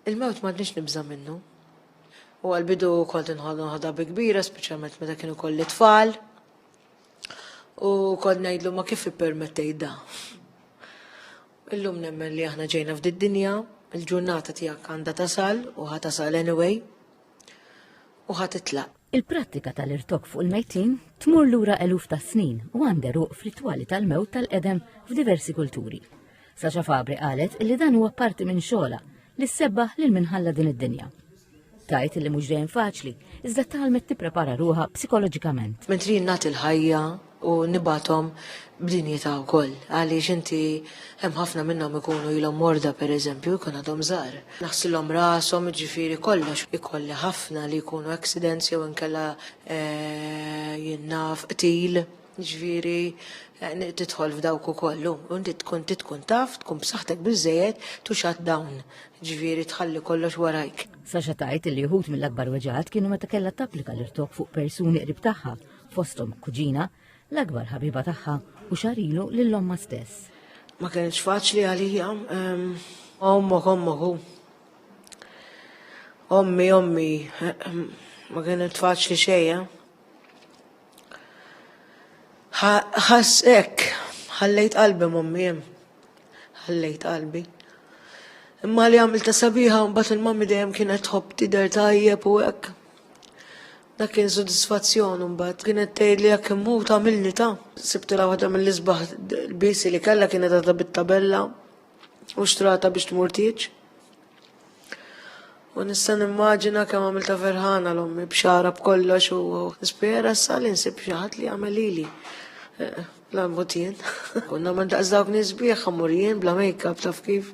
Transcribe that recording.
Il-mewt m'għadniex nibża' minnu. U għal-bidu kont inħollu ħadha bi kbira, speċjalment meta kienu kolli tfal. U kont ngħidlu ma kif ippermettej da. Illum nemmen li aħna ġejna f'did dinja, il-ġurnata tiegħek għandha tasal u ħa tasal anyway. U ħa titlaq. Il-prattika tal-irtok fuq il-mejtin tmur lura eluf ta' snin u għandha ruq f'ritwali tal-mewt tal-qedem f'diversi kulturi. Saxa Fabri qalet li dan huwa parti minn xogħla li ssebbaħ lil minħalla din id-dinja. Tajt li mhux dejjem faċli, iżda talmet tipprepara ruha psikoloġikament. Mentri jinnat il-ħajja u nibgħathom b'dinjità wkoll għaliex inti hemm ħafna minnhom ikunu ilhom morda pereżempju jkun għadhom żgħar. Naħsilhom rashom jiġifieri kollox ikolli ħafna li jkunu accidents jew inkella eh, jinnaf qtil ġviri eh, titħol f'dawk ukoll u inti tkun titkun taf tkun b'saħħtek biżejjed tu xat dawn ġviri tħalli kollox warajk. Saxa tajt li jħut mill-akbar weġat kienu meta kellha tapplika l-irtok fuq persuni qrib tagħha fosthom kuġina, l-akbar ħabiba tagħha u xahar ilu lil ommha stess. Ma kienx faċli għalija. Ehm, ommok, ommok, ommi, ommi, ehm, ma kienet faċli xejja. Eh? ħassek, ħallejt qalbi mommi jem, ħallejt qalbi. Imma li għamil ta' sabiħa, mbat il-mammi dejjem kienet tħobb tider tajjeb u hekk. Dak kien sodisfazzjon imbagħad. Kienet tgħidli jekk immut għamilli ta. Sibtilha waħda mill-isbaħ l-bisi li kellha kienet għadha bit-tabella u xtrata biex tmur tieġ. U nista' nimmaġina kemm għamilta ferħana l-ommi b'xara b'kollox u nispera sa li nsib xi ħadd li jagħmel lili. Eh, la mutien. Konna ma daqs dawk nisbieħ ħamurjien bla make-up taf kif.